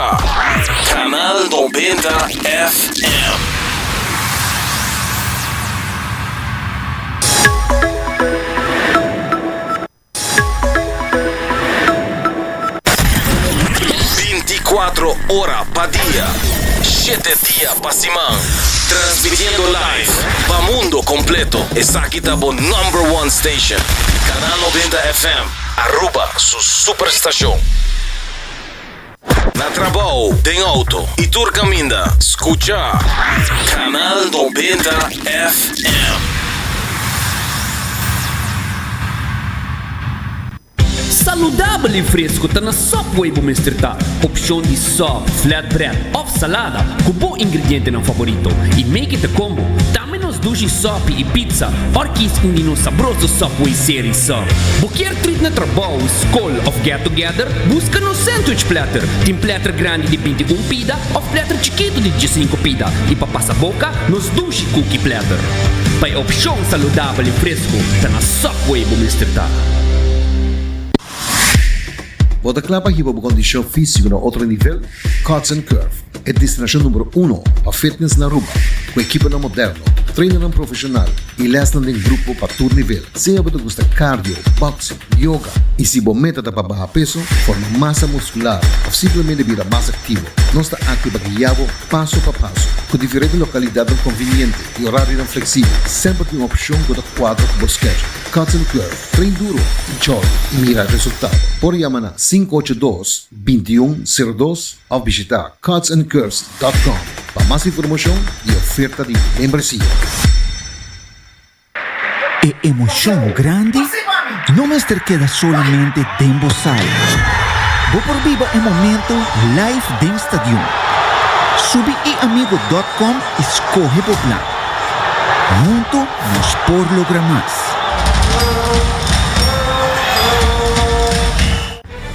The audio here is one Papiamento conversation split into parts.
a Canal noventa FM. Binti kuatro ora pa dia, shete dia pa siman. Transmitiendo live pa mundo completo. Esaki ta bo number one station. Canal noventa FM, Aruba su superstacion. Na trabao, den auto y tur caminda, scucha Canal Noventa FM. Saludabel y fresco ta na sop wey bo mester ta. Opcion di sop, flatbread of salada cu bo ingredientenan favorito y make it a combo. P'e nos dushi sòpi i pizza òr kis un di nos sabroso Subway seri sa. Bo kier trip na trabou, skol òf get together? Buska nos sandwich platter. Tin platter grandi di binti un pida òf platter chikitu di diesinco pida. I pa pasa boka, nos dushi cookie platter. Pa e opshon saludabel i fresku, ta na Subway bo mester ta. Bo ta kla pa hiba bo kondishon físiko na otro nivel? Cuts and Curve, e destinashon numero uno pa fitness na Aruba, ku ekiponan moderno, trainernan profeshonal i lèsnan den grupo pa tur nivel. Sea bo ta gusta cardio, boxing, yoga i si bo meta ta pa baha peso, forma masa muskular òf simplemente bira mas aktivo, nos ta akí pa guia bo paso pa paso. Ku diferente lokalidatnan konviniente i orarionan fleksibel, semper tin un opshon ku ta kuadra ku bo schedule. Cuts and Curve, train duro i chòl i mira resultado! Por a yama na sinku ocho dos. binti i un, sero dos, of bishita cardsandcurves dot com pa mas informashon i oferta di membresia. E emoshon grandi no mester keda solamente den bo sala. Bo por biba e momentu live den stadion. Subi iamigo dot com i skohe bo plan. Huntu nos por logra mas.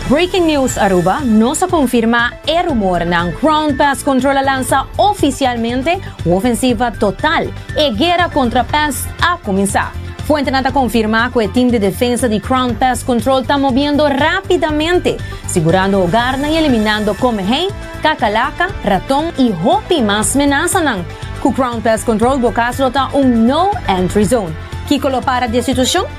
Breaking News Aruba, Nos a konfirmá e rumornan, Ground Pest Control a lansa ofisialmente un ofensiva total, e guera kontra pest a kuminsá. Fuentenan ta konfirmá ku e tim di defensa di Ground Pest Control ta mobiendo rápidamente, sigurando hogarnan i eliminando komehei, kakalaka, raton i hopi mas menasanan. Ku Ground Pest Control bo kas lo ta un No Entry Zone. Kiko lo para di e situashon?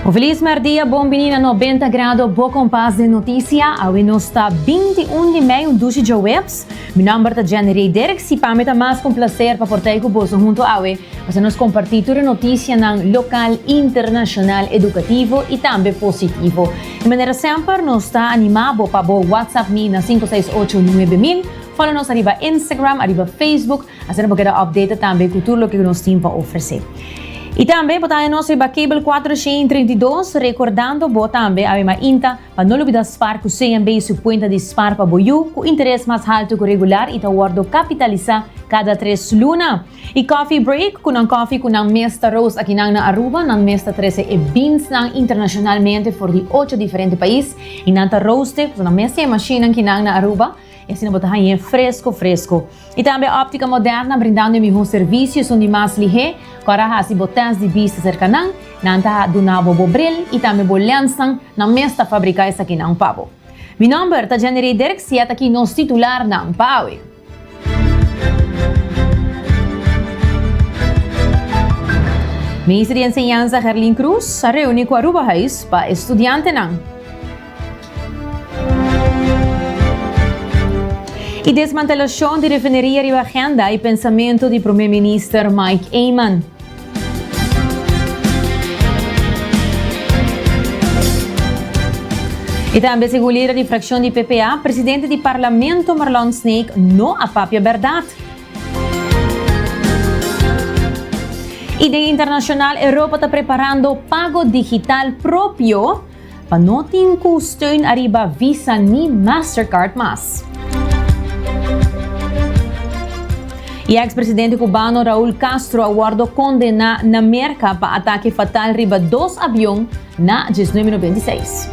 Un felis mèrdia, bon bini na Nobenta Grado, bo kompas den notisia. Awe nos ta binti un di mei, un dushi djoweps. Mi nòmber ta Jenny Rey Dirks i pa mi ta mas ku un plaser pa por ta ei ku boso huntu awe pa sa nos kompartí tur e notisianan lokal, internashonal, edukativo i tambe positivo. Di manera semper nos ta animá bo pa bo whatsapp mi na sinku seis ocho nuebe mil, fòlo nos ariba Instagram, ariba Facebook, Asina bo keda updated tambe ku tur loke ku nos tin pa ofresé. I tambe bo ta haña nos riba Cable Cuatro Sheen treinta i dos, rekordando bo tambe a mima inta pa no lubidá spar ku CNB su kuenta di spar pa bo yu ku interes mas haltu ku regular i ta wòrdu kapitalisá kada tres luna. I Coffee Break ku nan kòfi ku nan mes ta roast akinan na Aruba, nan mes ta trese e beansnan internashonalmente for di ocho diferente pais i nan ta roast e, pasobra nan mes tin e mashinnan kinan na Aruba, I asina bo ta hañ'é fresco fresco. I tambe Optica Moderna brindando e mihó servicio esun di mas lihé. Cu ara haci bo test di bista cerca nan, nan ta duna bo bo bril i tambe bo lensnan, nan mes ta fabrica esakinan pa bo. Mi nomber ta Jenirey Dirks i e ta ki nos titularnan pa awe. Minister di Enseñansa Herlin Cruz a reuni cu Aruba Huis pa Estudiantenan. Y desmantelacion di refineria riba agenda y pensamento di Prome Minister Mike Eman. Y tambe segun lider di fraccion di PPA, Presidente di Parlamento Marlon Snaek no a papia berdad. Y den internacional Europa ta preparando pago digital propio. Pa no tin cu steun ariba Visa ni Mastercard mas. Y ex presidente Cubano Raul Castro a wordo condena na Merca pa atake fatal riba dos avion na diesnuebe noventa y seis.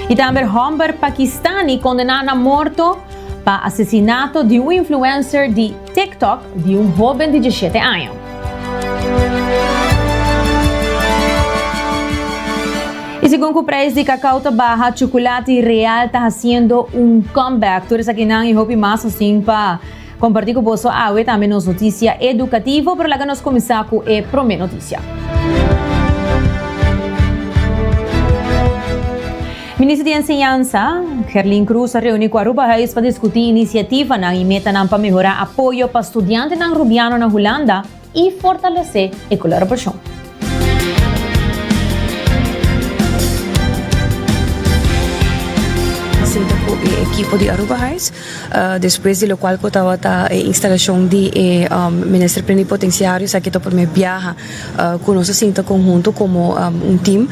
Y tambe er homber Pakistani condena na morto pa asesinato di un influencer di. TikTok di un hoben di diesshete año. Y segun cu prijs di cacao ta baha, chocolate real ta haciendo un comeback. Tur esaki nan y hopi mas nos tin pa comparti cu boso awe, tambe nos noticia educativo. Pero laga nos cuminsa cu e prome noticia. Minister di Enseñansa, Gerlin Cruz a reuni cu Aruba Huis pa discuti iniciativanan y metanan pa mehora apoyo pa studiantenan Rubiano na Hulanda y fortalece e colarobacion. Sinta cu e ekipo di Aruba Huis. Despues di locual cu tabata e instalacion di e Minister Plenipotenciario esaki ta primer biaha cu nos a sinta conhunto como un team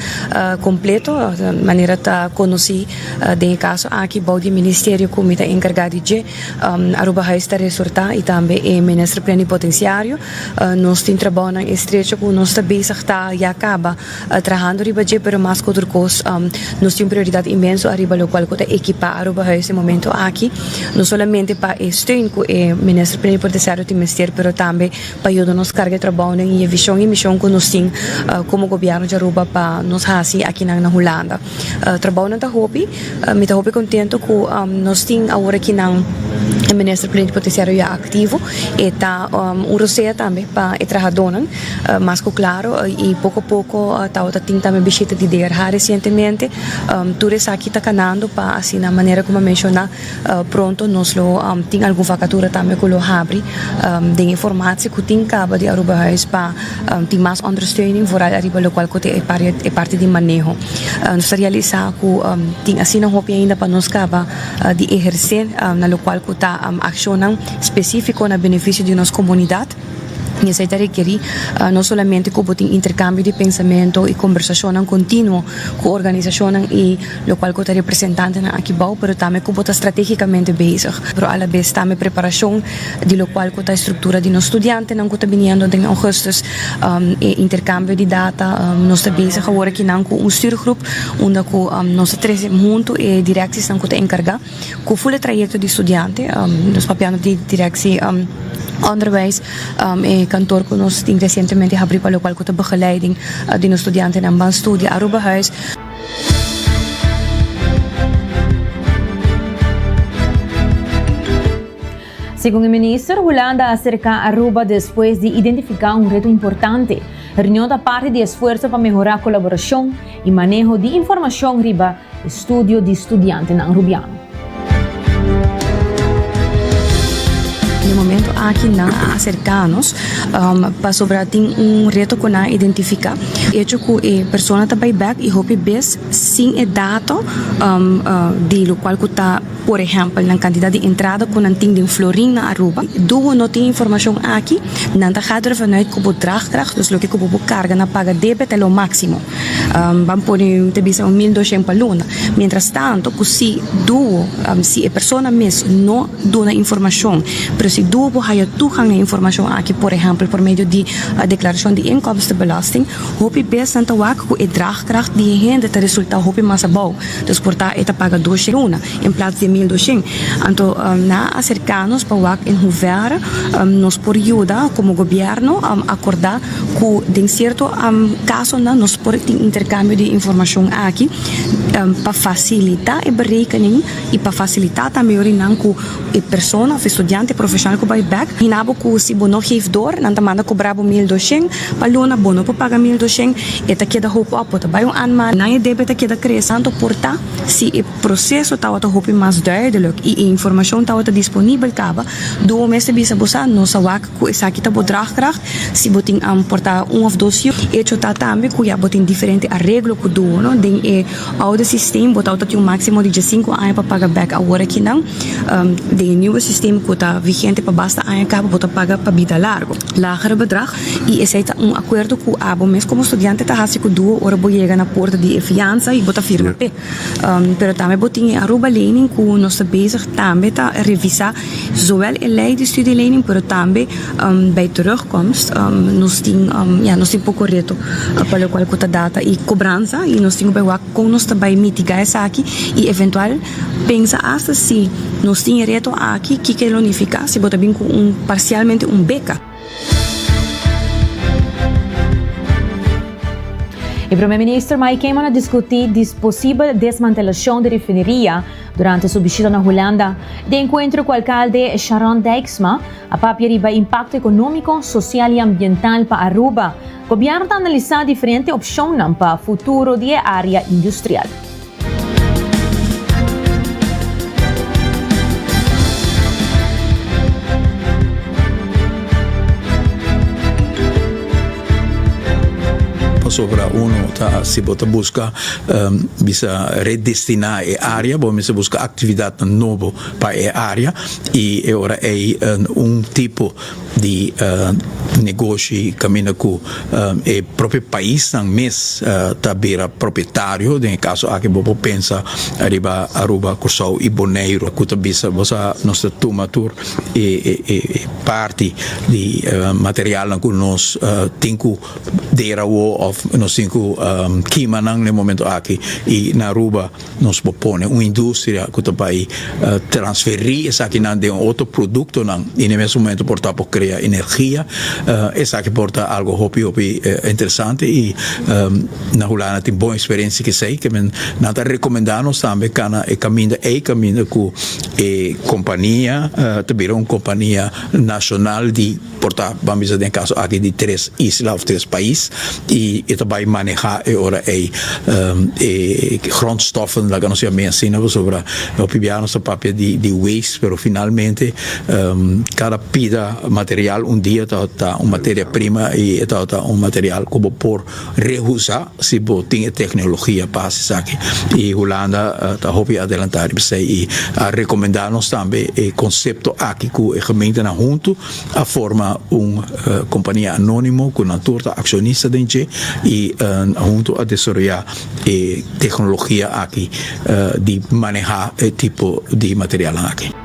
completo manera ta conoci den e caso aki bao di e Ministerio cu mi ta encarga di dje Aruba Huis ta resorta y tambe e Minister Plenipotenciario nos tin trabaonan estrecho cu nos ta bezig ta ya caba Trahando riba dje pero mas ku otro kos nos tin un prioridat inmenso ariba lokual ku ta ekipá Aruba Huis e momentu aki no solamente pa e steun ku e Minister Plenipotenciario tin mester pero tambe pa yuda nos karga e trabounan i e vishon i mishon ku nos tin komo Gobièrnu di Aruba pa nos hasi akinan na Hulanda. Trabounan ta hopi. Mi ta hopi contento cu nos tin awor aki nan e Minister Plenipotenciario ya activo. E ta un rosea tambe pa e trahadonan. Mas cu claro y poco poco tawata tin tambe bishita di DRH recientemente. Tur esaki ta canando pa asina manera como a menciona. Pronto nos lo tin algun vakatura tambe ku lo habri den e formatsie ku tin kaba di Aruba Huis pa tin mas ondersteuning vooral ariba lo kual kote e parti di maneho. Nos ta realisá ku tin asina hopi ainda pa nos kaba di ehersé na lo kual ku ta akshonan spesífiko na benefisio di nos komunidat. I esei ta rekerí no solamente ku bo tin interkambio di pensamentu i kombersashonnan kontinuo ku organisashonnan i lokual ku ta representantenan aki bou pero tambe ku bo ta stratégikamente bezig pero alabes tambe preparashon di lokual ku ta e struktura di nos studiantenan ku ta biniendo den Augustus e interkambio di data nos ta bezig awor aki nan ku un stürgroep unda ku nos ta trese huntu e direksisnan ku ta enkargá. Ku ful e trayekto di studiante nos papiando di direkshi onderwijs e kantoor ku nos tin resientemente habri pa lokual ku ta begeleiding di nos studiantenan ban studia Aruba Huis. Segun e Minister, Hulanda a aserká Aruba despues di identifiká un reto importante. Reunion ta parti di esfuerso pa mehorá kolaborashon i maneho di informashon riba Estudio di studiantenan Rubiano. Den momento aki nan a aserka nos pasobra tin un reto cu nan a identifica e hecho cu e persona ta bay bek y hopi bes sin e dato di locual cu ta por ehempel nan cantidad di entrada cu nan tin den Florin na Aruba. Do bo no tin informacion aki nan ta gaat ervanuit cu bo draagkracht, dus loke cu bo por carga na paga debet ta lo maximo. Um, ban pone un te bisa un mil doshen pa luna. Mientras tanto, ku si duo, um, si e persona mes no duna informashon, pero si duo bo haya tugang na informashon aki, por ehempel, por medio di uh, deklarashon di inkomstenbelasting, hopi bes nan ta wak ku e draagkracht di e hende ta resulta hopi mas abou. Dus por ta e ta paga doshen luna en plats di e mil doshen. Anto, um, nan a aserká nos pa wak en hoever um, nos por yuda komo gobièrnu um, akordá cu den cierto casonan nos por tin intercambio di informacion aki pa facilita e berekening y pa facilita tambe ora nan cu e persona of e studiante profesional cu bay back hina bo cu si bo no geef door nan ta manda cobra bo mil dushend pa luna bo no por paga mil dushend e ta keda hopi op bo ta bay un aña mas nan e debe ta keda crece tanto por ta si e proceso tawata hopi mas duidelijk y e informacion tawata disponible caba Duo mester bisa bo sa nos a wak Cu esaki ta bo draagkracht? Si bo tin am por ta un of dos yu. Hecho ta tambe cu ya bo tin diferente areglo cu duo, no? Den e oude systeem bo tabata tin un maximo di diescinco aña pa paga bek awor aki nan. Den e nieuwe systeem cu ta vigente pa basta aña caba bo ta paga pa bida largo. Lagere bedrag y esey ta un acuerdo cu abo mes como studiante ta haci cu duo ora bo yega na puerta di e fianza y bo ta firma p'e. Pero tambe bo tin e Aruba Lening cu nos ta bezig tambe ta revisa zowel e ley di studie lening pero tambe bij terugkomst nos tin ya nos tin poco reto pa locual cu ta data y cobransa y nos tin cu bay wak con nos ta bay mitiga esaki y eventual pensa hasta si nos tin e reto aki kiko e lo nifica si bo ta bin cu un parcialmente un beca. E Prome Minister Mike Kemon a diskutí di posibel desmantelashon di refineria durante su bishita na Hulanda. Den enkuentro ku alkalde Sharon Dijksma, a papia riba impakto ekonómiko, sosial i ambiental pa Aruba. Gobièrnu ta analisá diferente opshonnan pa futuro di e área industrial. Pasobra uno ta si bo ta busca bisa redestina e area bo mester busca actividad nobo pa e area y e ora ey un tipo di negoshi kaminda ku e propio paisnan mes ta bira propietario den e kaso aki bo por pensa riba Aruba Kòrsou i Boneiru ku ta bisa bo sa nos ta tuma tur e parti di materialnan ku nos tin ku dera awo òf nos tin ku kima nan na e momentu aki i na Aruba Nos por pone un industria cu ta bay transferi esakinan den otro productonan y na e mes momento por ta por crea energia. Esaki por ta algo hopi hopi interesante y na Hulanda tin bon experiencia cu esey. Nan ta recomenda nos tambe cana e caminda ey, caminda cu e compania ta bira un compania nacional di. por ta ban bisa den e kaso aki di tres isla of tres pais y e ta bay maneha e ora ey e grondstoffen laga nos yama bien asina pasobra hopi biaha nos ta papia di waste pero finalmente cada pida material un dia tabata un materia prima y e tabata un material cu bo por Rehusa si bo tin e tecnologia pa haci esaki y Hulanda ta hopi adelanta riba esey y a recomenda nos tambe e concepto aki cu e gementenan hunto a forma un compania anonimo cu nan tur ta accionista den dje y hunto a desaroya e tecnologia aki di maneha e tipo di materialnan aki.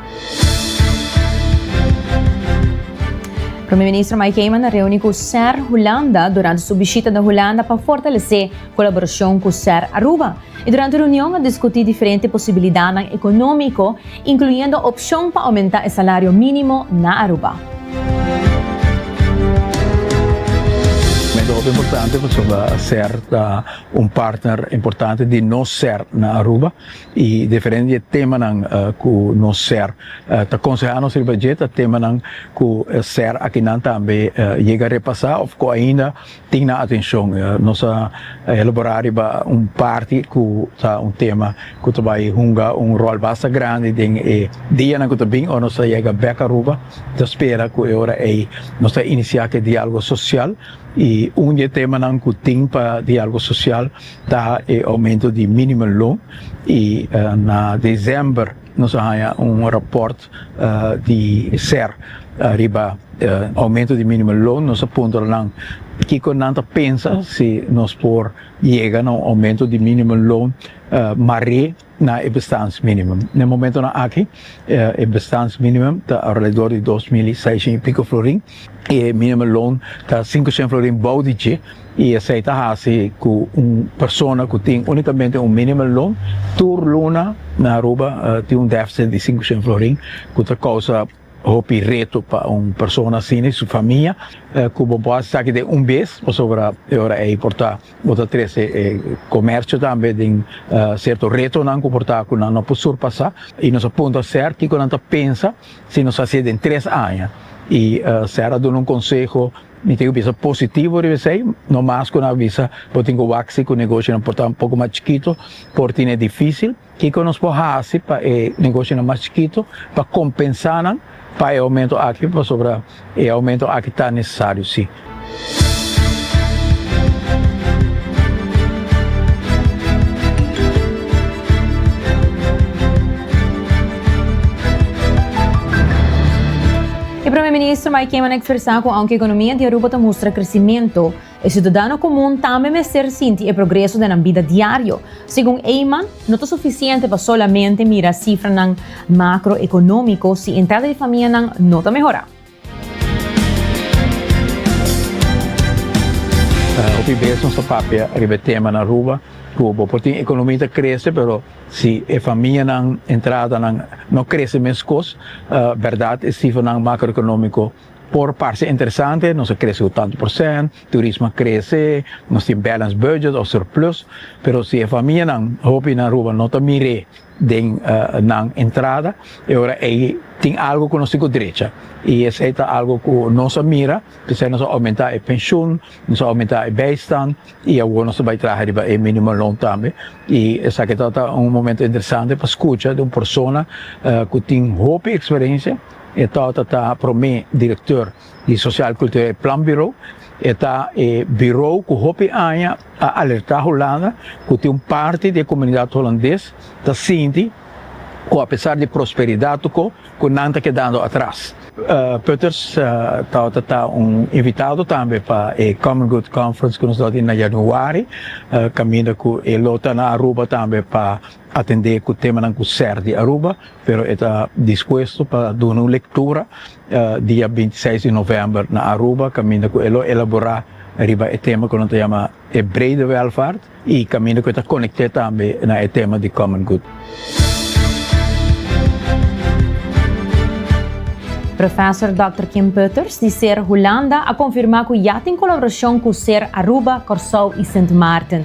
Prome ministro Mike Eman na reuni ku ser Hulanda durante su bishita na Hulanda pa fortalesé kolaborashon ku ser Aruba. E durante reunion a diskutí diferente posibilidatnan ekonómiko, inkluyendo opshon pa oumentá e salario mínimo na Aruba. Mester hopi importante pasobra ser ta un partner importante di nos ser na Aruba. Y diferente di e temanan cu nos ser ta conseha nos riba dje ta temanan cu ser akinan tambe yega repasa of cu ainda tin nan atencion. Nos a elabora riba un parti cu ta un tema cu ta bay hunga un rol basta grandi den e dianan cu ta bin ora nos ta yega bek Aruba. Ta spera cu e ora ey nos ta inicia cu e dialogo social y un di e temanan cu tin pa dialogo social Ta e aumento di minimum loan y na december nos a haña un rapport di ser riba aumento di minimum loan, nos a puntra nan kico nan ta pensa si nos por yega na un aumento di minimum loan mar'e. na e bestaansminimum. Na e momentonan aki e bestaansminimum ta alredor di dos mil i seishen i piko florin i e minimum loan ta sinkoshen florin bou di dje i esei ta hasi ku un persona ku tin únikamente un minimum loan tur luna na Aruba tin un défisit di sinkoshen florin ku ta kousa Hopi reto pa un persona asina i su famia ku bo por hasi esaki den un bes, pasobra e ora ei por ta bo ta trese e komersio tambe den sierto retonan ku por ta ku nan no por surpasá i nos a puntra ser kiko nan ta pensa si nos hasi e den tres aña i ser a duna un konseho mi tin ku bisa positivo riba esei no mas ku nan a bisa bo tin ku wak si ku negoshonan por ta un poko mas chikito por tine difísil. Kiko nos por hasi pa e negoshonan mas chikito pa kompensá nan pa e oumentu aki pasobra e oumentu aki ta nesesario sí? E Prome Minister Mike Kiman a ekspresá ku aunke ekonomia di Aruba ta mustra kresimentu, E siudadano komun tambe mester sinti e progreso den nan bida diario. Segun Eyman, no ta sufisiente pa solamente mira sifranan makroekonómiko si entrada di famianan no ta mehorá. Hopi bes nos ta papia riba e tema na Aruba ku bo por tin ekonomi ta krese pero si e famianan entradanan no krese meskos, bèrdat e sifranan makroekonómiko Por parse interesante, nos a krese ku tantu por sènt, turismo a krese, nos tin balanced budget òf surplus, pero si e famianan, hopi na Aruba no ta mir'é den nan entrada, e ora ei tin algu ku nos tin ku drecha. I esei ta algu ku nos a mira, p'esei nos a oumentá e penshun, nos a oumentá e bèistan i awor nos ta bai traha riba e minimum loan tambe. I esaki ta ta un momento interesante pa skucha di un persona ku tin hopi eksperensia, E tata ta promé direktor di Sosial Kultureel Planbureau. E ta e birou ku hopi aña a alertá Hulanda ku tin un parti di e komunidat Hulandes ta sinti ku apesar di prosperidat tokó ku nan ta kedando atras. Putters tata ta un invitado tambe pa e Common Good Conference ku nos lo tin na yanuari, kaminda ku e lo ta na Aruba tambe pa atendé ku temanan ku ser di Aruba, pero e ta dispuesto pa duna un lektura dia binti seis di novèmber na Aruba kaminda ku e lo elaborá riba e tema ku nan ta yama e brede wèlvaart i kaminda ku e ta konekté tambe na e tema di common good. Profèsor Dòkter Kim Putters di ser Hulanda a konfirmá ku ya tin kolaborashon ku ser Aruba, Kòrsou i Sint Maarten.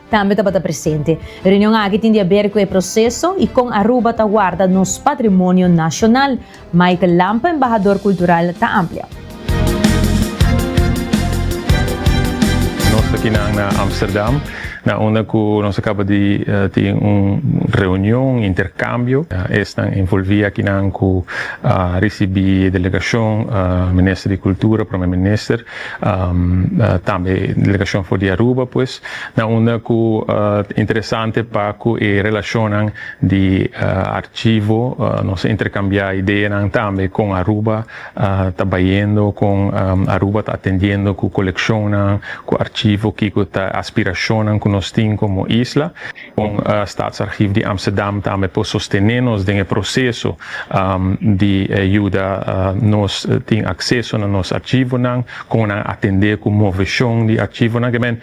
Tambe tabata presente. E reunion aki tin di haber cu e proceso y con Aruba ta warda nos patrimonio nacional. Michael Lampe, embahador cultural, ta amplia. Nos ta kinan na Amsterdam, na unda cu nos a caba di tin un reunion, intercambio. Esnan envolvi akinan cu a ricibi e delegacion, Minister di Cultura, Prome Minister, tambe delegacion for di Aruba, pues. Na unda ku interesante pa ku e relashonnan di archivo nos a interkambiá ideanan tambe kon Aruba ta bayendo, kon Aruba ta atendiendo ku kolekshonnan, ku archivo, kiko ta aspirashonnan ku nos tin komo isla. Kon Staatsarchief di Amsterdam tambe por sostené nos den e proseso di yuda nos tin akseso na nos archivonan? Kon nan atendé ku moveshon di archivonan? Ke men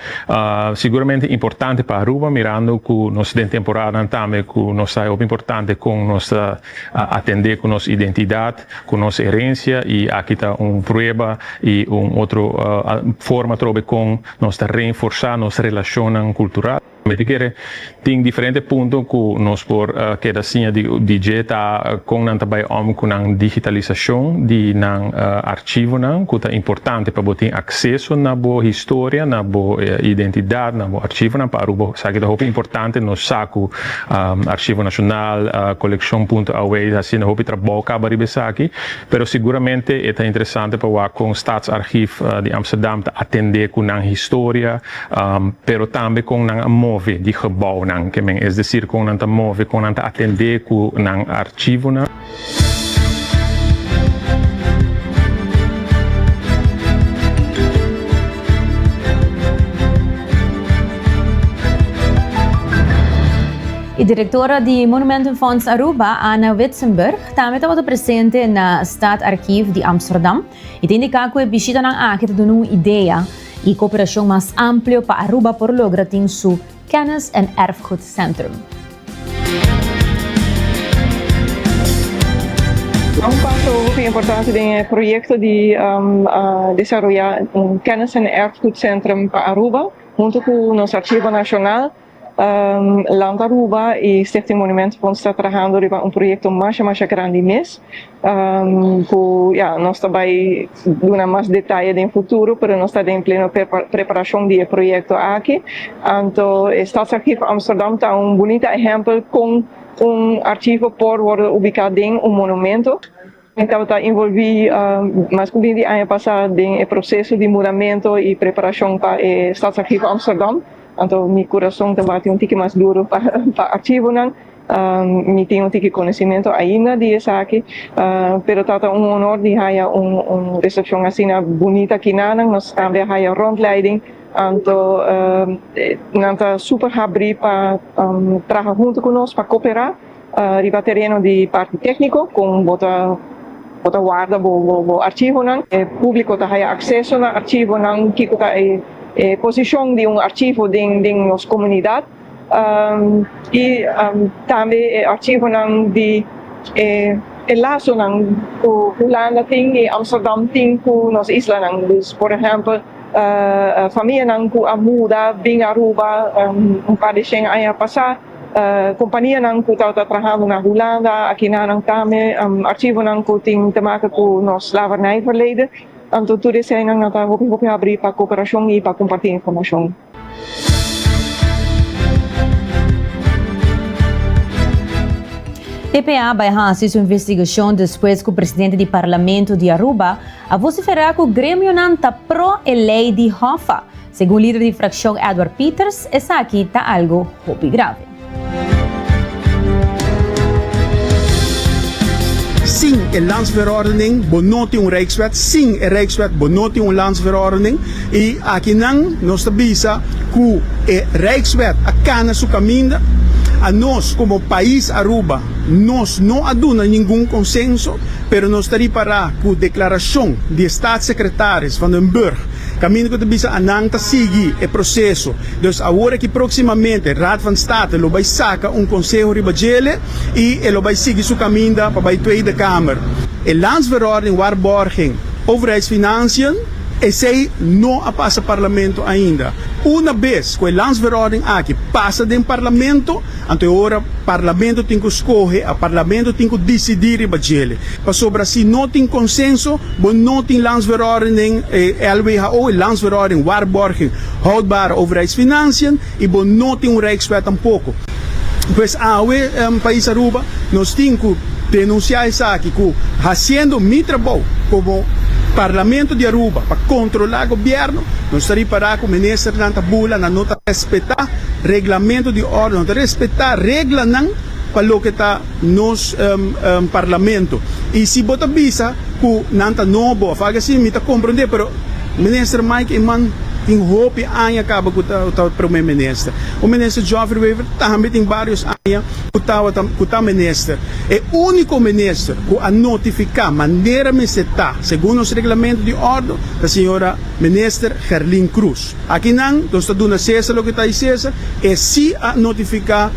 siguramente importante pa Aruba, mirando ku nos den temporadan tambe ku nos ta e hopi importante kon nos ta atendé ku nos identidat, ku nos herencia i aki ta un prueba i un otro forma trobe kon nos ta reenforsá nos relashonnan kultural. Mi ta kere tin diferente punto ku nos por keda siña di di dje ta kon nan ta bai om ku nan digitalisashon di nan archivonan ku ta importante pa bo tin akseso na bo historia, na bo identidat, na bo archivonan pa Aruba. Esaki ta hopi importante nos sa ku Arshivo Nashonal, Kolekshon Punto Away ta hasinda hopi trabou kaba riba esaki, pero seguramente e ta interesante pa wak kon Staatsarchief di Amsterdam ta atende ku nan historia, pero tambe kon nan a move di gebounan ke men, es desir kon nan ta move, kon nan ta atendé ku nan archivonan. E direktora di Monumentenfonds Aruba, Anna Witzenburg, tambe tabata presente na Staatsarchief di Amsterdam, i ta indiká ku e bishitanan aki ta duna un idea y cooperacion mas amplio pa Aruba por logra tin su Kennis en Erfgoed Centrum. A un paso hoger tin importancia den e proyecto di desaroya un Kennis en Erfgoed Centrum pa Aruba hunto cu nos Archivo Nacional. Land Aruba y Stichting Monument por nos ta trahando riba un proyecto masha masha grandi mes cu ya nos ta bay duna mas detaye den futuro pero nos ta den pleno preparacion di e proyecto aki anto e Stadsarchief Amsterdam ta un bunita ehempel con un archivo por wordo ubica den un monumento. Mi tabata involví mas cu bini di aña pasá den e proceso di muramento y preparacion pa e Stadsarchivo Amsterdam, anto mi curason ta bati un tiki mas duro pa archivonan. Mi tin un tiki conocimento ainda di esaki, pero tabata un honor di haya un recepcion asina bunita kinanan. Nos tambe a haya rondleiding, anto nan ta super habrí pa traha hunto cu nos, pa cooperá. Riba tereno di parti tékniko kon bo ta bo ta warda bo bo archivonan. E públiko ta haya akseso na archivonan, kiko ta e e posishon di un archivo den den nos komunidat i tambe e archivonan di e e lasonan ku Hulanda tin i Amsterdam tin ku nos islanan. Dus por ehèmpel famianan ku a muda bin Aruba un par di shen aña pasá. Kompanianan ku tabata trahando na Hulanda, akinan nan ta me archivonan ku tin te maka ku nos slavernijverleden. Anto tur eseinan nan ta hopi hopi habri pa koperashon i pa kompartí informashon. Dpa bai hasi su investigashon despues ku presidente di Parlamento di Aruba a vosiferá ku gremionan ta pro e lei di Hoffa Segun lider di frakshon Edward Pieters esaki ta algu hopi grave. Sin e Landsverordening bo no tin un Rijkswet, sin e Rijkswet bo no tin un Landsverordening, i aki nan nos ta bisa ku e Rijkswet a kana su kaminda, a nos komo pais Aruba nos no a duna ningun konsenso, pero nos ta ripará ku deklarashon di e Staatssekretaris Van den Burg Caminda cu ta bisa a nan ta sigui e proceso. Dus awor aki proximamente Raad van State lo bay saca un conseho riba djele y e lo bay sigui su caminda pa bay Tweede Kamer. E Landsverordening Waarborging, Overheidsfinanciën, esey no a pasa Parlamento ainda. Una bes cu e Landsverordening aki pasa den Parlamento, Anto e ora Parlamento tin ku skohe, a Parlamento tin ku disidí riba djele. Pasobra si no tin konsenso, bo no tin Landsverordening, e LWHO, e Landsverordening Waarborging Houdbare Overheidsfinanciën, i bo no tin un Rijkswet tampoko. Pues awe, Pais Aruba, nos tin ku denunsiá esaki ku hasiendo mi trabou komo Parlamento di Aruba pa kontrolá gobièrnu, nos ta ripará ku Ministernan ta bula, nan no ta respetá. Reglamento di orde no ta respetá reglanan pa loke ta nos parlamento. I si bo ta bisa ku nan ta nobo òf algu así mi ta komprendé, pero minister Mike e man tin hopi aña kaba ku ta Prome Minister. Ku Minister Geoffrey Wever tambe tin barios aña ku tabata ku ta minister. E úniko minister ku a notifiká manera mester ta segun nos reglamento di orde ta señora Minister Gerlin Cruz. Aki nan nos ta duna Cesar loke ta di Cesar, e si a notifica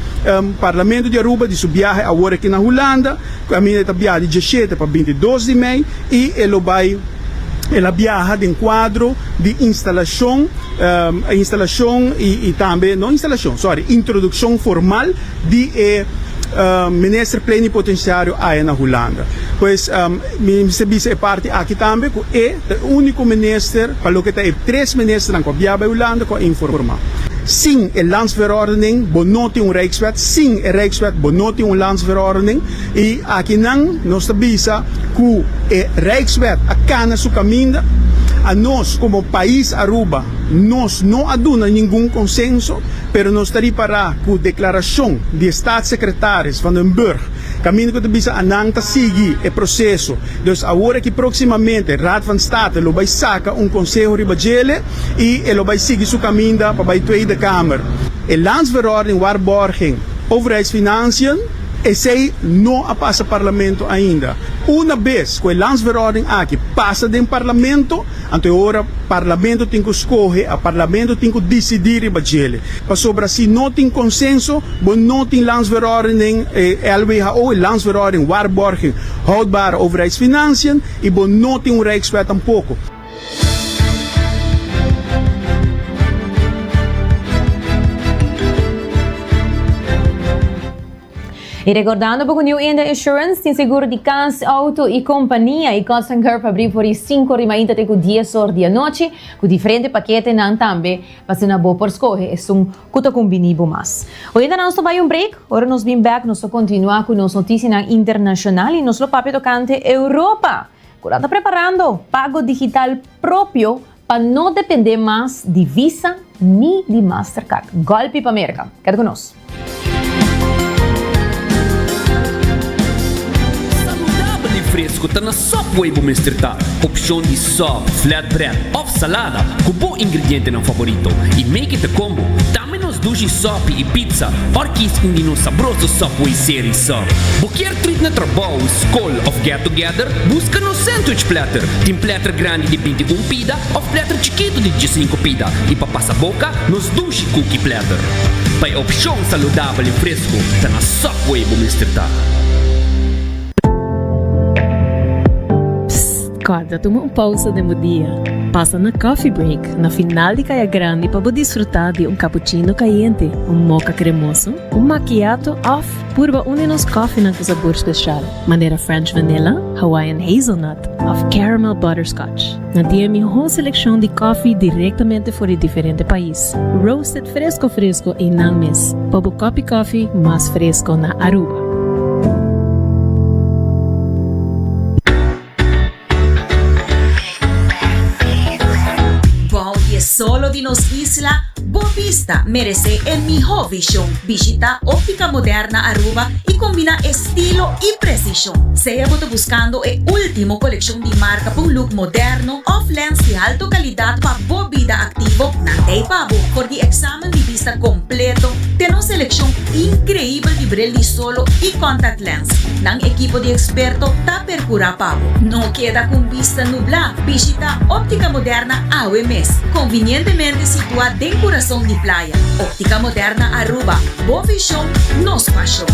Parlamento di Aruba di su biahe awor aki na Hulanda, caminda e ta biaha di diesshete pa bintidos di mei y e lo bay, el a biaha den cuadro di instalacion, instalacion y tambe, no instalacion, sorry, introduccion formal di e Minister Plenipotenciario aya na Hulanda. Pues mi mester bisa e parti aki tambe cu e. Ta e úniko minister pa loke ta e tres ministernan kua biaha bai Hulanda kua informá. Sin e Landsverordening bo no tin un Rijkswet, sin e Rijkswet bo no tin un Landsverordening i akinan nos ta bisa ku e Rijkswet a kana su kaminda. Anos komo pais Aruba nos no a duna ningun konsenso pero nos ta ripará ku deklarashon di e Staatssekretaris Van den Burg Caminda cu ta bisa a nan ta sigui e proceso. Dus awor aki proximamente Raad van State lo bay saca un conseho riba djele y e lo bay sigui su caminda pa bay Tweede Kamer. E Landsverordening Waarborging Overheidsfinanciën, esey no a pasa Parlamento ainda. Una bes cu e Landsverordening aki pasa den Parlamento, Anto e ora Parlamento tin ku skohe, a Parlamento tin ku disidí riba djele. Pasobra si no tin konsenso, bo no tin Landsverordening, e LWHO, e Landsverordening Waarborging Houdbare Overheidsfinanciën, i bo no tin un Rijkswet tampoko. I rekordando bo ku New India Insurance tin seguro di kas, outo i kompania i kos nan karo pa abri for di sinku rimainta te ku dies or di anochi, ku diferente paketenan tambe, pasobra bo por skohe esun ku ta kumbini bo mas. Oyente nos ta bai un break, ora nos bin bèk nos ta kontinua ku nos notisianan internashonal i nos lo papia tokante Europa, ku nan ta preparando pago digital propio Pa no depende mas di Visa ni di Mastercard. Golpi pa Merca! Keda ku nos. Saludabel i fresku ta na Subway bo mester ta. Opshon di sub, flatbread òf salada ku bo ingredientenan favorito i make it a combo. Di nos dushi sopi i pizza òr kis un di nos sabroso Subway serie sa. Bo kier trit na trabou, skol òf get together? Buska nos sandwich platter. Tin platter grandi di binti un pida òf platter chikitu di diesinku pida. I pa pasa boka, nos dushi cookie platter. Pa e opshon saludabel i fresku, ta na Subway bo mester ta. Guarda, tuma un pausa den bo dia. Pasa na Coffee Break, na final di Kaya Grandi pa bo disfruta di un cappuccino cayente, un moka cremoso, un macchiato of purba un di nos kòfinan cu sabor special, manera French Vanilla, Hawaiian Hazelnut of Caramel Butterscotch. Na dia mihó seleccion di kòfi directamente for di diferente pais, roasted fresco fresco einan mes, pa bo cup di kòfi mas fresco na Aruba. Bou di e solo di nos isla, Bo bista meresé e mihó vishon. Bishita Óptica Moderna Aruba i kombiná estilo i presishon. Sea bo ta buskando e último kolekshon di marka pa un luk moderno òf lèns di halto kalidat pa bo bida aktivo, nan ta ei pa bo for di eksamen di bista kompleto den nos selekshon inkreibel di bril di solo i kòntaktlenz. Nan ekipo di eksperto ta. percura pabo. No keda cu un bista nubla, bishita Optica Moderna awe mes, convinientemente situa den curason di playa. Optica Moderna Aruba, bo vision, nos pasion.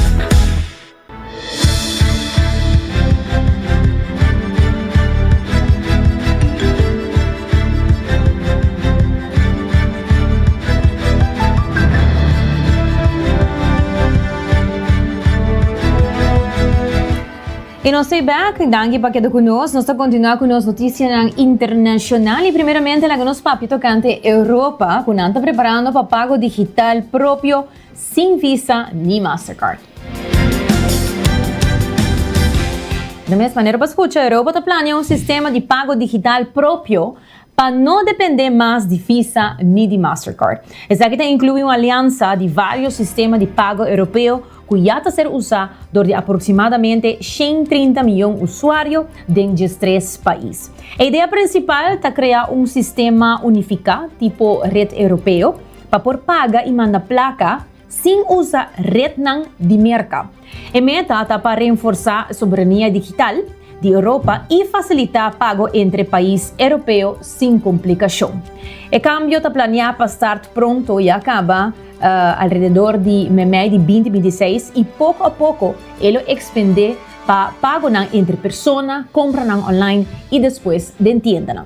E nos stay back, danki pa keda ku nos. Nos ta kontinuá ku nos notisianan internashonal i primeramente laga nos papia tokante Europa ku nan ta preparando pa pago digital propio sin Visa ni Mastercard. Na mes manera bo a skucha, Europa ta plania un sistema di pago digital propio pa no dependé mas di Visa ni di Mastercard. Esaki ta inkluí un aliansa di vários sistema di pago Europeo ku ya ta ser usá dor di aproksimadamente shen trinta miyon usuario den diestres pais. E idea prinsipal ta krea un sistema unifiká tipo Red Europeo pa por paga i manda plaka, sin usa retnan di Merka. E meta ta pa renforsá soberania digital di Europa i fasilitá pago entre pais Europeo sin komplikashon. E kambio ta planeá pa start pronto i a kaba alrededor di memei di binti binti seis i poko a poko e lo ekspendé pa pagonan entre persona, kompranan online i despues den tiendanan.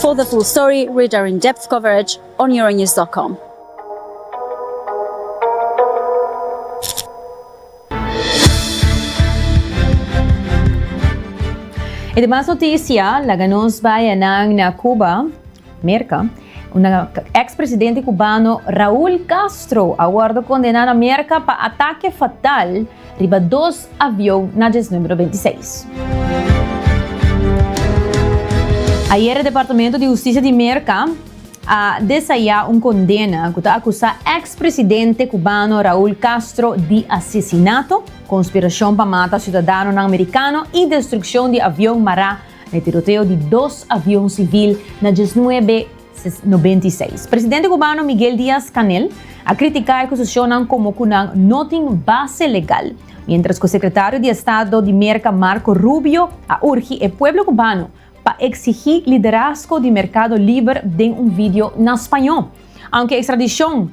For the full story, read our in-depth coverage on Euronews dot com. E demas noticia laga nos bay anan na Cuba, Merca, unda ex presidente cubano Raul Castro a wordo condena na Merca pa ataque fatal riba dos avion na djes numero beinti seis. Ayer e Departamento di Hustisia di Merka a desaya un kondena ku ta akusá eks presidente kubano Raul Castro di asesinato, konspirashon pa mata siudadanonan merikano i destrukshon di avion mará na e tiroteo di dos avion sivil na djes nuebe 1996. Presidente kubano Miguel Diaz-Canel a kritika e kuseshonnan komo ku nan no tin base legal, miéntras ku Sekretario di Estado di Merka Marco Rubio a urgi e pueblo kubano pa eksigí liderazgo di merkado liber den un video na spañó. Aunke ekstradishon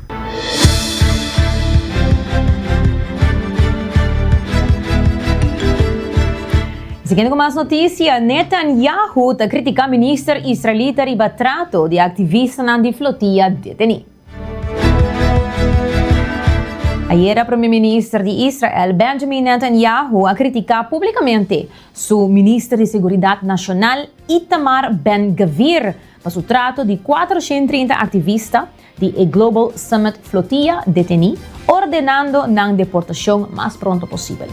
Siguiendo cu mas noticia, Netanyahu ta critica minister israelita riba trato di activistanan di flotia deteni. Ayera Premier Minister di Israel, Benjamin Netanyahu, a critica publicamente su Minister di Seguridad Nacional, Itamar Ben-Gvir, pa su trato di 430 activista di e Global Summit Flotilla detení, ordenando nan deportashon mas pronto posibel.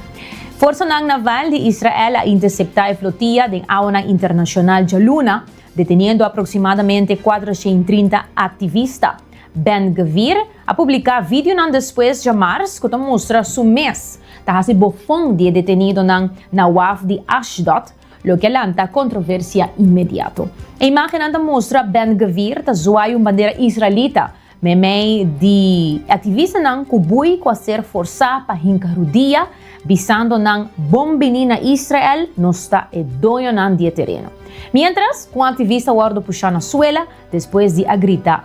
Forsanan naval di Israel a interseptá e flotilla den awanan internashonal djaluna, deteniendo aproksimadamente kuater shen i trinta aktivista. Ben Gvir a publiká videonan despues djamars ku ta mustra su mes ta hasi bofon di e detenidonan na waf di Ashdod, loke a lanta kontroversia inmediato. E imágennan ta mustra Ben-Gvir ta zuai un bandera israelita meimei di e aktivistanan ku bui ku a ser forsá pa hinka rudia, bisando nan, Bon bini na Israel, nos ta e doñonan di e tereno. Miéntras, un aktivista wòrdu pushá na suela despues di a grita,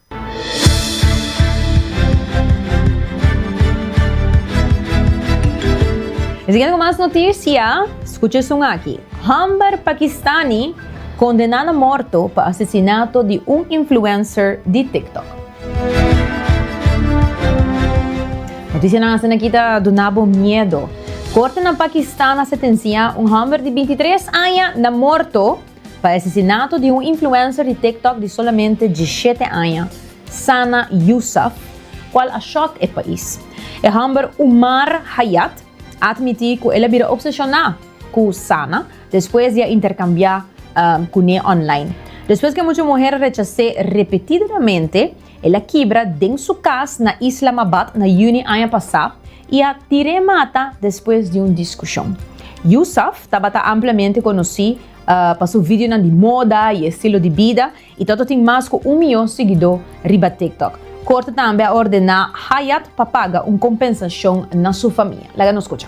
E siguiente cu mas noticia, scucha esun aki. Hambar Pakistani condena na morto pa asesinato di un influencer di TikTok. Noticianan asinaki ta duna bo miedo. Corte na Pakistan a setencia un hambar di bintitres aña na morto, Pa asesinato di un influencer di TikTok di solamente diesshete aña, Sana Yousaf, cual a shock e pais. E homber Umar Hayat a admiti cu el a bira obsesiona cu Sana despues di a intercambia cune online. Despues cu e mucha muher a rechase repetidamente El a kibra den su kas na Islamabad na yüni aña pasá i a tir'é mata despues di un diskushon. Yousaf tabata amplamente konosí pa su videonan di moda i estilo di bida i ta ota tin mas ku un miyon siguidó riba TikTok. Korte tambe a ordená Hayat pa paga un kompensashon na su famia. Laga nos skucha.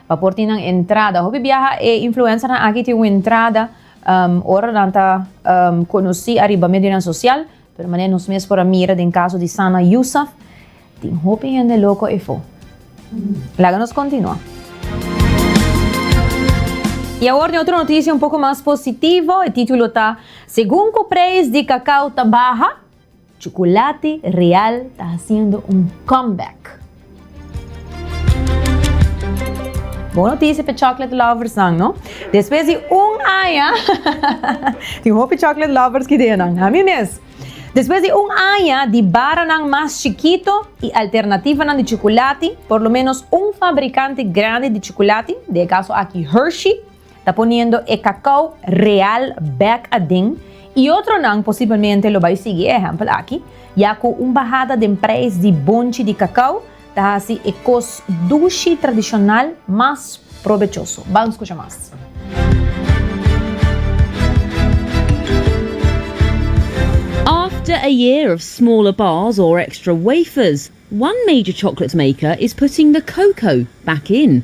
Pa por tin nan entrada. Hopi biaha e influencernan aki tin un entrada ora nan ta conoci ariba medionan social, pero manera nos mes por a mira den caso di Sana Yousaf, tin hopi hende loco efo. Laga nos continua. Y awor tin otro noticia un poco mas positivo, e titulo ta, Segun cu prijs di cacao ta baha, Chocolate Real ta haciendo un comeback! Bon noticia pa e chocolate lovers nan no. Despues di un aña, tin hopi chocolate lovers ki den nan, ami mes. Despues di un aña di baranan mas chikito y alternativanan di chocolate, por lo menos un fabricante grandi di chocolate, den e caso aki Hershey, ta poniendo e cacao real bek aden y otronan posiblemente lo bay sigui e ehempel aki, ya cu un bahada den prijs di bonchi di cacao ta haci e cos dushi tradicional mas probechoso. Ban scucha mas. After a year of smaller bars or extra wafers, one major chocolate maker is putting the cocoa back in.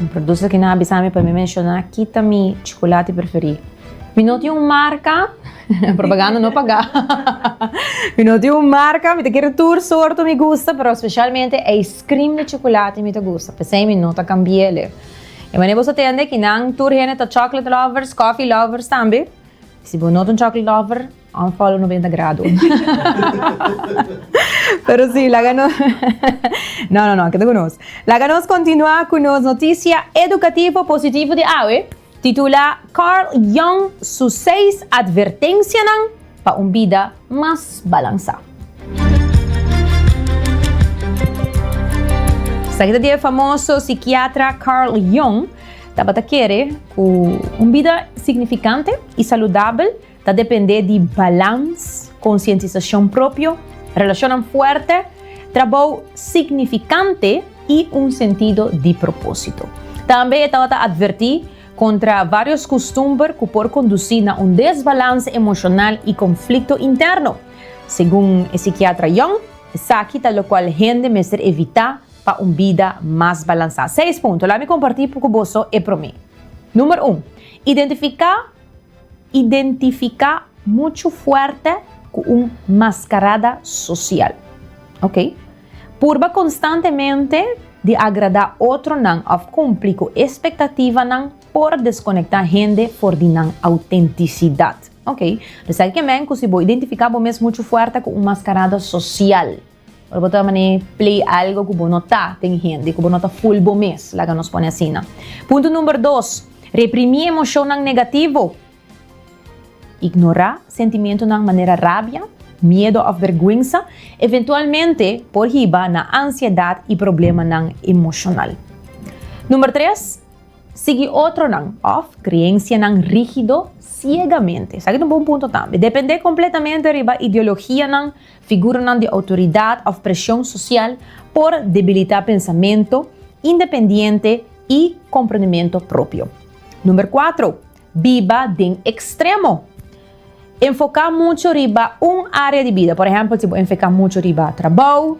Un producer ki na a bisa mi pa mi menshona ki ta mi chocolate preferí. Mi no tin un marca. Propaganda no pagá. Mi no tin un marca, mi ta kere tur sorto mi gusta, pero specialmente e ice cream di chocolate mi ta gusta, p'esei mi no ta cambi'el'e. E manera boso tende ki nan tur hende ta chocolate lovers, coffee lovers tambe. Si bo no ta un chocolate lover, unfollow no bini ta grado. Pero si, laga no, no, no, no, keda ku nos. Laga nos continua ku nos noticia educativo positivo di awe. Titula Carl Jung su seis advertensianan pa un bida mas balansá. Esaki ta di e famoso sikiatra Carl Jung, Tabata kere ku un bida signifikante i saludabel. ta dependé di balans, konsientisashon propio, relashonnan fuerte, trabou signifikante i un sentido di propósito. Tambe e tabata atvertí kontra vários kustumber ku por kondusí na un desbalans emoshonal i konflikto interno. Segun e sikiatra Young, esaki ta lokual hende mester evitá pa un bida mas balansá. Seis punto, la'a mi kompartí ku boso e promé. Número un, identifiká. Identifica mucho fuerte cu un mascarada social. Ok. Purba constantemente di agrada otronan of cumpli cu expectativanan por desconecta hende for di nan autenticidad. Ok. P'esaki ke men cu si bo identifica bo mes mucho fuerte cu un mascarada social. Ora bo ta mane play algo ku bo no ta den hende ku bo no ta full bo mes, laga nos pone asina. Punto number dos, Reprimí emoshonnan negativo. Ignorá sentimentunan manera rabia, miedo òf bèrgwensa eventualmente por hiba na ansiedat i problemanan emoshonal. Number tres, Sigui otronan òf kreensianan rígido siegamente. Esaki ta un bon punto tambe. Dependé kompletamente riba ideologianan, Figuranan di outoridat of presion sosial por debilita pensamento independiente y comprendimento propio. Number cuatro, biba den extremo. Enfoca mucho riba un area di bida, por ehempel si bo enfeca mucho riba trabou,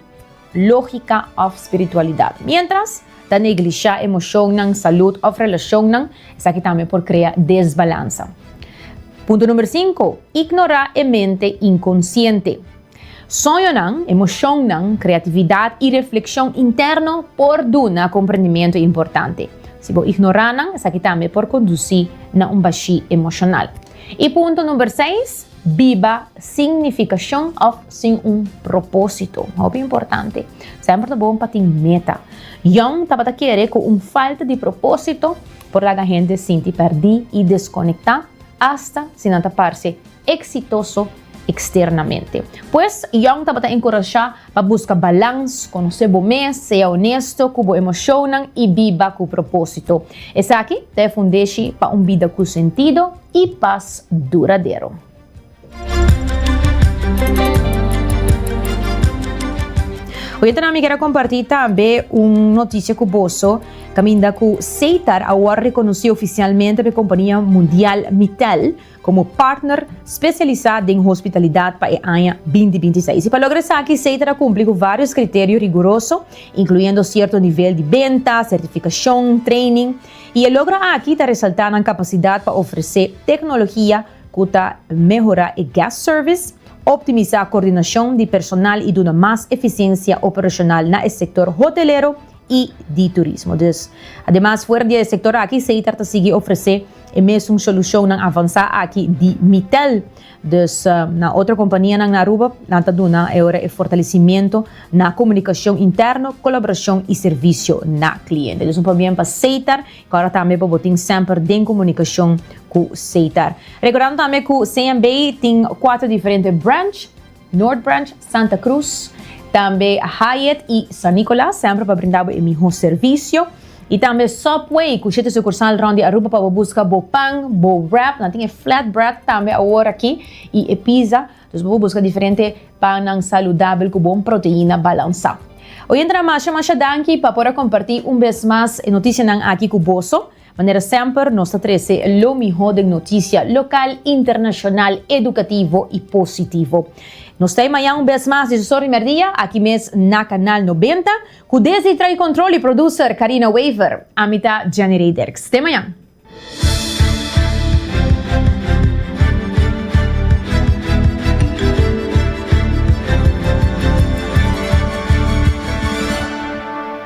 lógika òf spiritualidat. Miéntras ta neglishá emoshonnan, salud òf relashonnan, esaki tambe por krea desbalansa. Punto número sinku, Ignorá e mente inkonsiente. Soñonan, emoshonnan, kreatividat i reflekshon interno por duna komprendimiento importante. Si bo ignorá nan, esaki tambe por kondusí na un bashí emoshonal. I punto number seis, biba sin nificashon of sin un proposito. Hopi importante. Semper ta bon pa tin meta. Young tabata kere cu un falta di proposito por laga hende sinti perdi i desconecta, hasta si nan ta parce exitoso, externamente. Pues, Young tabata encourashá pa busca balans, conocé bo mes, sea honesto cu bo emocionnan y biba cu propósito. Esaki ta e fundeshi pa un bida cu sentido y paz duradero. Oyentenan, mi ker a comparti tambe un noticia cu boso caminda cu Seitar awor reconoci oficialmente pa e compania mundial Mittal, komo partner spesialisá den hospitalidat pa e aña binti binti seis. I pa logra esaki SEI ta na kumpli ku vários kriterio riguroso, inkluyendo sierto nivel di benta, sertifikashon, training. I e logro aki ta resaltá nan kapasidat pa ofresé teknologia ku ta mehorá e guest service, optimisá koordinashon di personal i duna mas efisiensia operashonal na e sektor hotelero i di turismo. Dus, ademas fuera di e sektor aki, Seitar ta sigui ofresé e mesun solushonnan avansá aki di Mitel. Dus, na otro kompanianan na Aruba, nan ta duna e ora e fortalesimentu na komunikashon interno, kolaborashon i servisio na kliente. Dus un pabien pa Seitar ku ora tambe pa bo tin semper den komunikashon ku Seitar. Rekordando tambe ku CMB tin kuater diferente branch. North Branch, Santa Cruz, tambe Hyatt y San Nicolas semper pa brinda bo e miho servicio. Y tambe Subway cu shete sucursal rond di Aruba pa bo busca bo pan, bo wrap, nan tin e flat bread tambe awor aki y e pizza. Dus bo por busca diferente pannan saludabel cu bon proteina balansa. Oyentenan masha masha danki pa por a comparti un bes mas e noticianan aki cu boso. Manera semper, nos ta trece lo miho den noticia local, internacional, educativo y positivo. Nos ta e mañan un bes mas di su Sorry Merdia, aki mes na Canal Noventa, cu desdi Trahi Control y Producer Carina Wever, ami ta Jenny Rey Dirks. Te mañan!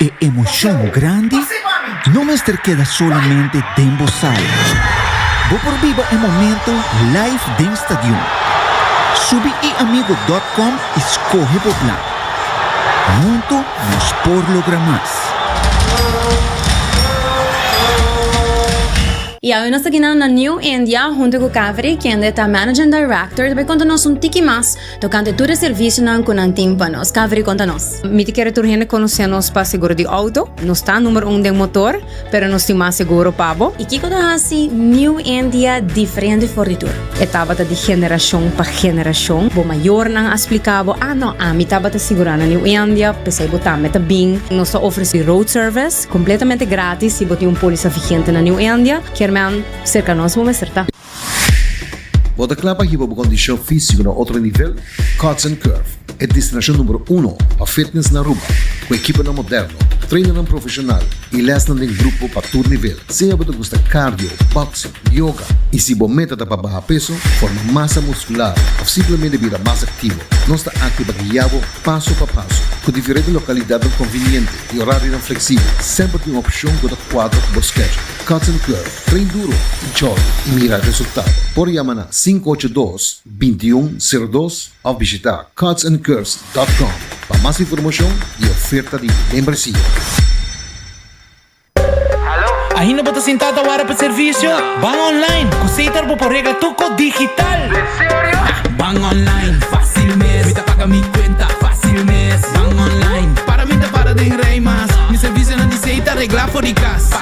E emocion grandi no mester keda solamente den bo sala. Bo por biba e momento live den stadion. Subi eamigo dot com y scoge bo plan. Hunto nos por logra mas. Y awe nos ta kina na New India hunto cu Kaveri kende ta Managing Director ta bay conta nos un tiki mas Tokante tur e servisionan ku nan tin pa nos. Kaveri konta nos. Mi ta kere tur hende konosé nos pa seguro di outo. Nos ta numer un den motor, pero nos tin mas seguro pa bo. I kiko ta hasi New India diferente for di tur? E tabata di generashon pa generashon. Bo mayornan a splika bo, Ah no, ami tabata sigurá na New India, p'esei bo tambe ta bin. Nos ta ofresí road service kompletamente gratis si bo tin un pólisa vigente na New India. Kier men serka nos bo mester ta. Bo ta kla pa hiba bo kondishon físiko na otro nivel? Cuts and Curve, e destinashon numero uno pa fitness na Aruba, ku ekiponan moderno, trainarnan profeshonal i lèsnan den grupo pa tur nivel. Sea bo ta gusta cardio, boxing, yoga i si bo meta ta pa baha peso, forma masa muskular òf simplemente bira mas aktivo, nos ta aki pa guia bo paso pa paso. Ku diferente lokalidatnan konviniente i orarionan fleksibel, semper tin un opshon ku ta kuadra ku bo schedule. Cotton Club, Train Duro, Tjoy i mira resultado. Por yama na sinku ocho dos, binti un, sero dos of bishita cotsandcurves dot com pa mas informashon i oferta di membresia. Ainda bo ta sintá ta wara pa servisio? Ban online ku Sater bo por regla tuko digital. Ban online fásil mes, mi ta paga mi kuenta fásil mes. Ban online para mi ta para den rei mas, mi servisionan di Sater reglá for di kas.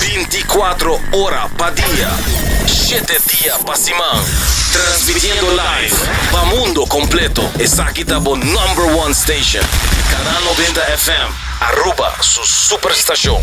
Binti kuatro ora pa dia, shete dia pa siman, transmitiendo live pa mundo completo, esaki ta bo number one station, Canal Noventa FM, Aruba su super stacion.